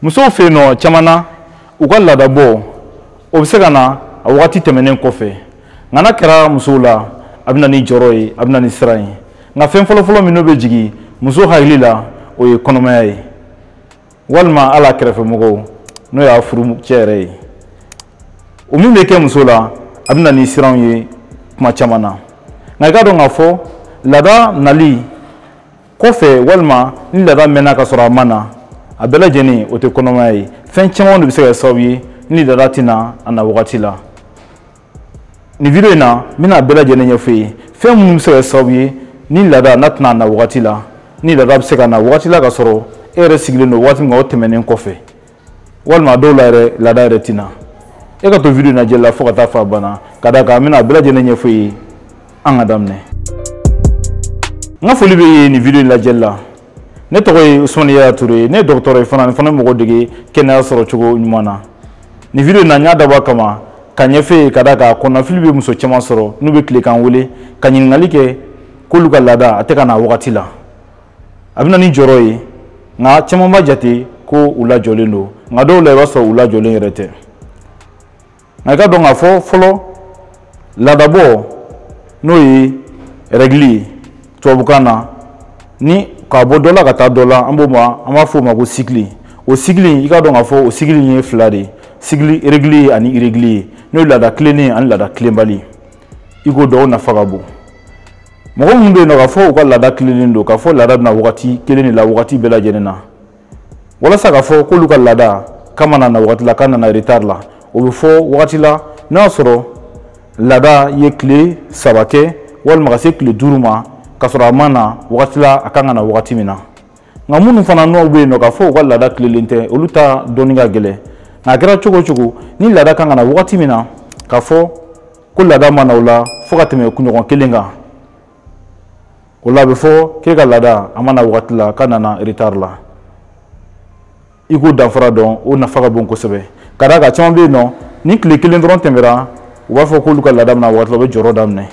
musow fɛ yen nɔ caman na u ka laadabɔ o bɛ se ka na a wagati tɛmɛnen kɔfɛ nka n'a kɛra musow la a bɛ na ni jɔrɔ ye a bɛ na ni siran ye nka fɛn fɔlɔfɔlɔ min n'o bɛ jigin muso hakili la o ye kɔnɔmaya ye walima a la kɛrɛfɛmɔgɔw n'o y'a furucɛ yɛrɛ ye o min bɛ kɛ muso la a bɛ na ni siran ye kuma caman na nka i k'a dɔn k'a fɔ laada nali kɔfɛ walima ni laada mɛnna ka sɔrɔ a ma na a bɛɛ lajɛlen o tɛ kɔnɔmaya ye fɛn caman de bɛ se ka kɛ sababu ye ni laada tɛ na a na wagati la nin video in na n bɛna a bɛɛ lajɛlen ɲɛfɔ i ye fɛn minnu bɛ se ka kɛ sababu ye ni laada n'a tɛ na a na wagati la ni laada bɛ se ka na wagati la ka sɔrɔ e yɛrɛ sigilen don waati min kan o tɛmɛnen kɔfɛ walima a dɔw la yɛrɛ laada yɛrɛ tɛ na e ka to video nin lajɛli la fo ka taa f'a ban na ka d'a kan n bɛna a bɛɛ lajɛlen ɲɛfɔ i ye an ka daminɛ n ka foli b'i ye nin video in lajɛli la ne tɔgɔ ye usumani yaya ture ye ne ye dɔgɔtɔrɔ ye fana n fana mɔgɔw dege kɛnɛya sɔrɔ cogo ɲuman na nin video in na n y'a dabɔ a kama k'a ɲɛfɔ i ye ka d'a kan kɔnɔnafili bɛ muso caman sɔrɔ n'u bɛ tile ka n wele ka ɲininkali kɛ k'olu ka laada a tɛ ka na wagati la a bɛ na ni jɔrɔ ye nka caman b'a jate ko u lajɔlen don nka dɔw la i b'a sɔrɔ u lajɔlen yɛrɛ tɛ nka i k'a dɔn k'a fɔ fɔlɔ laadabɔ n'o ye rɛgili ye tubabukan na ni ka bɔ dɔ la ka taa dɔ la an b'o ma an b'a fɔ o ma ko sikili o sikili i k'a dɔn k'a fɔ o sikili ye fila de ye sikili rɛgiliye ani irɛgiliye n'o ye laada tilennen ani laada tilenbali i k'o dɔn o nafa ka bon mɔgɔ minnu bɛ yen nɔ k'a fɔ u ka laada tilennen don k'a fɔ laada bɛ na wagati kelen de la wagati bɛɛ lajɛlen na walasa k'a fɔ k'olu ka laada k'a ma na na wagati la k'a nana retard la o bɛ fɔ wagati la n'a y'a sɔrɔ laada ye tile saba kɛ walima ka se tile duuru ma k'a sɔrɔ a ma na wagati la a kan ka na wagati min na nka minnu fana n'o bɛ yen nɔ k'a fɔ u ka laada tilelen tɛ olu ta dɔnni ka gɛlɛn nka a kɛra cogo o cogo ni laada kan ka na wagati min na k'a fɔ ko laada ma na o la fo ka tɛmɛ kunɲɔgɔn kelen kan o la a bɛ fɔ k'e ka laada a ma na wagati la k'a nana retard la i k'o danfara dɔn o nafa ka bon kosɛbɛ ka d'a kan caman bɛ yen nɔ ni tile kelen dɔrɔn tɛmɛra u b'a fɔ k'olu ka laada ma na waati la u bɛ jɔrɔ daminɛ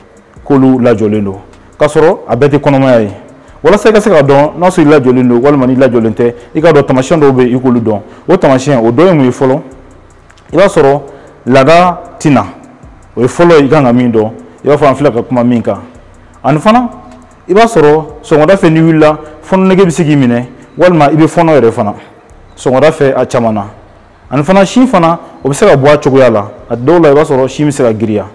k'olu lajɔlen don k'a sɔrɔ a bɛɛ tɛ kɔnɔmaya ye walasa i ka se k'a dɔn n'a sɔrɔ i lajɔlen don walima n'i lajɔlen tɛ i k'a dɔn tamasiyɛn dɔw bɛ yen i k'olu dɔn o tamasiyɛn o dɔ ye mun ye fɔlɔ i b'a sɔrɔ laada tɛ na o ye fɔlɔ ye i kan ka min dɔn i b'a fɔ an filɛ ka kuma min kan ani fana i b'a sɔrɔ sɔgɔmada fɛ n'i wulila fɔnɔ nege bɛ se k'i minɛ walima i bɛ fɔnɔ yɛrɛ fana sɔgɔmada fɛ a caman na ani fana sin fana o bɛ se ka bɔ a cogoya la a dɔw la i b'a sɔrɔ sin bɛ se ka giriya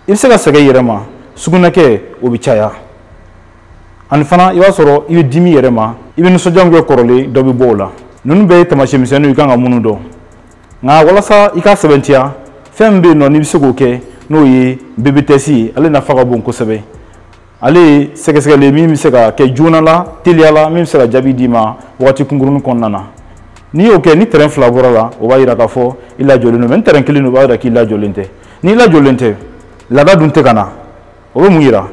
i bɛ se ka sɛgɛn i yɛrɛ ma sugunɛkɛ o bɛ caya ani fana i b'a sɔrɔ i bɛ dimi yɛrɛ ma i bɛ nisɔndiya min kɛ kɔrɔlen dɔ bɛ bɔ o la ninnu bɛɛ ye taamasiyɛn misɛnninw ye i kan ka minnu dɔn nka walasa i k'a sɛbɛntiya fɛn min bɛ yen nɔ n'i bɛ se k'o kɛ n'o ye bébé test ye ale nafa ka bon kosɛbɛ ale ye sɛgɛsɛgɛli min bɛ se ka kɛ joona la teliya la min bɛ se ka jaabi d'i ma wagati kunkurunin kɔnɔna na n'i y'o kɛ ni trait fila bɔra a la o b'a yira k'a fɔ i lajɔlen don mais ni trait kelen don o b'a yira k'i lajɔlen tɛ n'i lajɔlen tɛ laada dun tɛ ka na o bɛ mun yira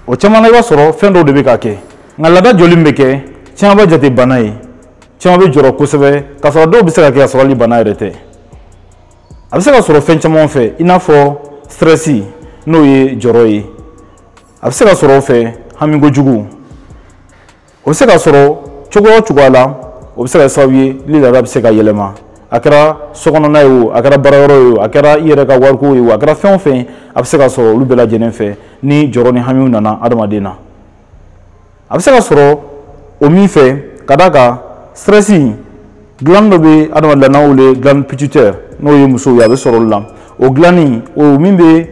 o caman na i b'a sɔrɔ fɛn dɔw de bɛ ka kɛ nka laada jɔli min bɛ kɛ caman b'a jate bana ye caman bɛ jɔrɔ kosɛbɛ k'a sɔrɔ dɔw bɛ se ka kɛ ka sɔrɔ hali bana yɛrɛ tɛ a bɛ se ka sɔrɔ fɛn caman fɛ i n'a fɔ stress n'o ye jɔrɔ ye a bɛ se ka sɔrɔ o fɛ hami kojugu o bɛ se ka sɔrɔ cogoya o cogoya la o bɛ se ka kɛ sababu ye ni laada bɛ se ka yɛlɛma a kɛra sokɔnɔna ye o a kɛra baara yɔrɔ ye o a kɛra i yɛrɛ ka wariko ye o a kɛra fɛn o fɛn a bɛ se ka sɔrɔ olu bɛɛ lajɛlen fɛ ni jɔrɔ ni hamiw nana adamaden na a bɛ se ka sɔrɔ o min fɛ ka d'a kan stress glande dɔ bɛ adamaden la n'an wele glande pituitaire n'o ye musow ye a bɛ sɔrɔ olu la o glande nin o min bɛ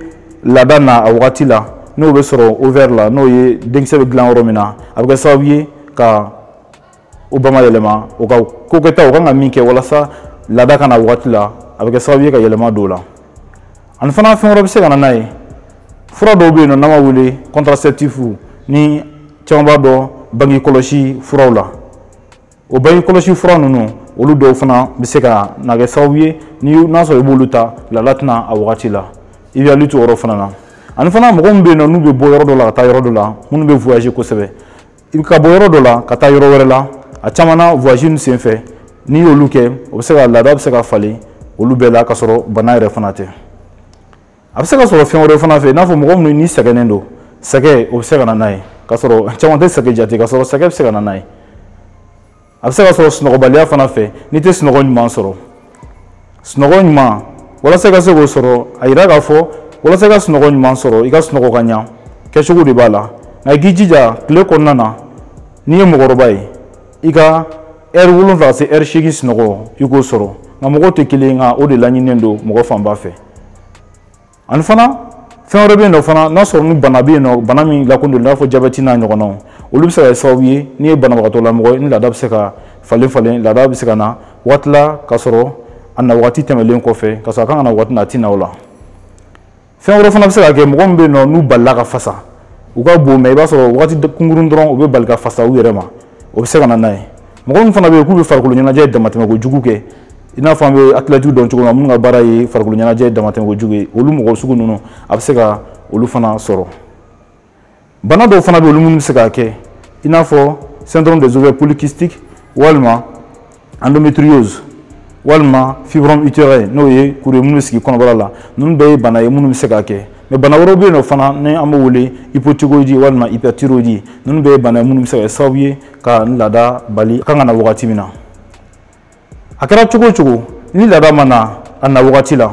laada na a wagati la n'o bɛ sɔrɔ ovaire la n'o ye denkisɛ bɛ dilan yɔrɔ min na a bɛ kɛ sababu ye ka u ba ma yɛlɛma u ka ko kɛtaw u kan ka min kɛ walasa laada ka na a wagati la a bɛ kɛ sababu ye ka yɛlɛma don o la ani fana fɛn wɛrɛ bɛ se ka na n'a ye fura dɔw bɛ yen nɔ n'an b'a wele contraceptif ni caman b'a dɔn bange kɔlɔsi furaw la o bange kɔlɔsi fura ninnu olu dɔw fana bɛ se ka na kɛ sababu ye ni n'a sɔrɔ i b'olu ta laada tɛ na a wagati la i b'i hakili to o yɔrɔ fana na ani fana mɔgɔ min bɛ yen nɔ n'u bɛ bɔ yɔrɔ dɔ la ka taa yɔrɔ dɔ la minnu bɛ voyager kosɛbɛ i bɛ ka bɔ yɔrɔ dɔ la ka taa yɔrɔ wɛrɛ la a caman na voyage nin senfɛ n'i y'olu kɛ o bɛ se ka laada bɛ se ka falen olu bɛɛ la ka sɔrɔ bana yɛrɛ fana tɛ a bɛ se ka sɔrɔ fɛn wɛrɛ fana fɛ i n'a fɔ mɔgɔ minnu ni sɛgɛnnen don sɛgɛn o bɛ se ka na n'a ye ka sɔrɔ caman tɛ sɛgɛn jate ka sɔrɔ sɛgɛn bɛ se ka na n'a ye a bɛ se ka sɔrɔ sunɔgɔbaliya fana fɛ n'i tɛ sunɔgɔ ɲuman sɔrɔ sunɔgɔ ɲuman walasa i ka se k'o sɔrɔ a yira k'a fɔ walasa i ka sunɔgɔ ɲuman sɔrɔ i ka sunɔgɔ ka ɲa kɛcogo de b'a la nka i k'i jija tile kɔnɔna na n'i ye mɔgɔkɔrɔba ye i ka heure wolonwula ka se heure seegin sunɔgɔ i k'o sɔrɔ nka mɔgɔw tɛ kelen nka o de laɲininen don mɔgɔ fanba fɛ ani fana fɛn wɛrɛ bɛ yen nɔ fana n'a sɔrɔ ni bana bɛ yen nɔ bana min lakodɔnnen i n'a fɔ jabɛti n'a ɲɔgɔnnaw olu bɛ se ka kɛ sababu ye n'i ye banabagatɔ lamɔgɔ ye ni laada bɛ se ka falen falen laada bɛ se ka na waati la ka sɔrɔ a na waati tɛmɛlen kɔfɛ ka sɔrɔ a kan ka na waati na a tɛ na o la fɛn wɛrɛ fana bɛ se ka kɛ mɔgɔ min bɛ yen nɔ n'u balila ka fasa u ka bon mɛ i b'a sɔrɔ waati kunkurun dɔrɔn u bɛ bali ka fasa u yɛrɛ ma o bɛ se ka na n'a ye mɔgɔ minnu fana bɛ yen k'u bɛ farikolo ɲɛnajɛ damatɛmɛ kojugu kɛ i n'a fɔ an bɛ atilɛtiw dɔn cogo min na minnu ka baara ye farikolo ɲɛnajɛ damatɛmɛ kojugu ye olu mɔgɔ sugu ninnu a bɛ se ka olu fana sɔrɔ bana dɔw fana bɛ olu minnu bɛ se k'a kɛ i n'a fɔ syndrome des ovaires polykystiques walima endométriose walima fibrome utérin n'o ye kuru ye minnu bɛ sigi kɔnɔbara la ninnu bɛɛ ye bana ye minnu bɛ se k'a kɛ mɛ bana wɛrɛw bɛ yen nɔ fana ni an b'o wele hypothyroïdie walima hyperthyroïdie ninnu bɛɛ ye bana ye minnu bɛ se ka kɛ sababu ye ka n laada bali a kan ka na wagati min na a kɛra cogo o cogo ni laada ma na a na wagati la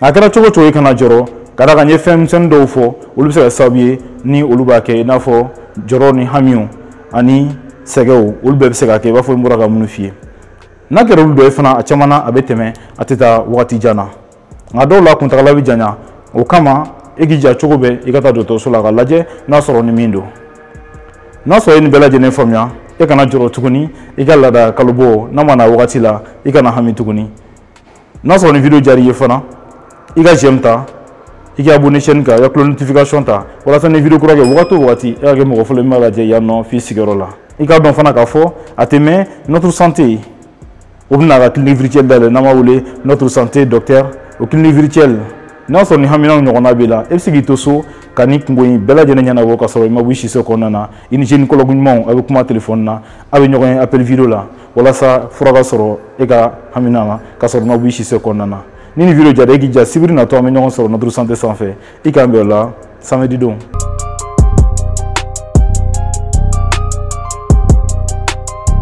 a kɛra cogo o cogo i kana jɔrɔ ka d'a kan n ye fɛn misɛnnin dɔw fɔ olu bɛ se ka kɛ sababu ye ni olu b'a kɛ i n'a fɔ jɔrɔ ni hamiw ani sɛgɛnw olu bɛɛ bɛ se ka kɛ i n'a fɔ n bɔra ka minnu f'i ye n'a kɛra olu dɔ ye fana a caman na a bɛ tɛmɛ a tɛ taa wagati jan na nka dɔw la kuntagala bɛ janya o kama e k'i ja cogo bɛɛ i ka taa dɔgɔtɔrɔso la ka lajɛ n'a sɔrɔ ni min don n'a sɔrɔ e nin bɛɛ lajɛlen faamuya e kana jɔrɔ tuguni i ka laada kalobɔ n'a ma na wagati la i kana hami tuguni n'a sɔrɔ ni video diyara i ye fana i ka j'aime ta i ka abonné chaîne kan i ka cloche notification ta walasa ni video kura kɛ wagati o wagati e ka kɛ mɔgɔ fɔlɔ min b'a lajɛ yan nɔ f'i sigiyɔrɔ la i k'a dɔn fana k'a fɔ a tɛ mɛn notre santé o bɛna ka clinique virtuelle dayɛlɛ n'an b'a wele notre santé docteur o clinique virtuelle n'a sɔrɔ ni haminaw ɲɔgɔnna b'i la e bɛ se k'i to so ka nin kunko in bɛɛ lajɛlen ɲɛnabɔ ka sɔrɔ i ma bɔ i siso kɔnɔna na i ni gynécologue ɲumanw a bɛ kuma telefɔni na a bɛ ɲɔgɔn ye appel video la walasa fura ka sɔrɔ e ka hamina na ka sɔrɔ i ma b'i siso kɔnɔna na ni nin video diyara e k'i ja sibiri natɔ an bɛ ɲɔgɔn sɔrɔ notre santé sanfɛ i k'an bɛn o la samedi don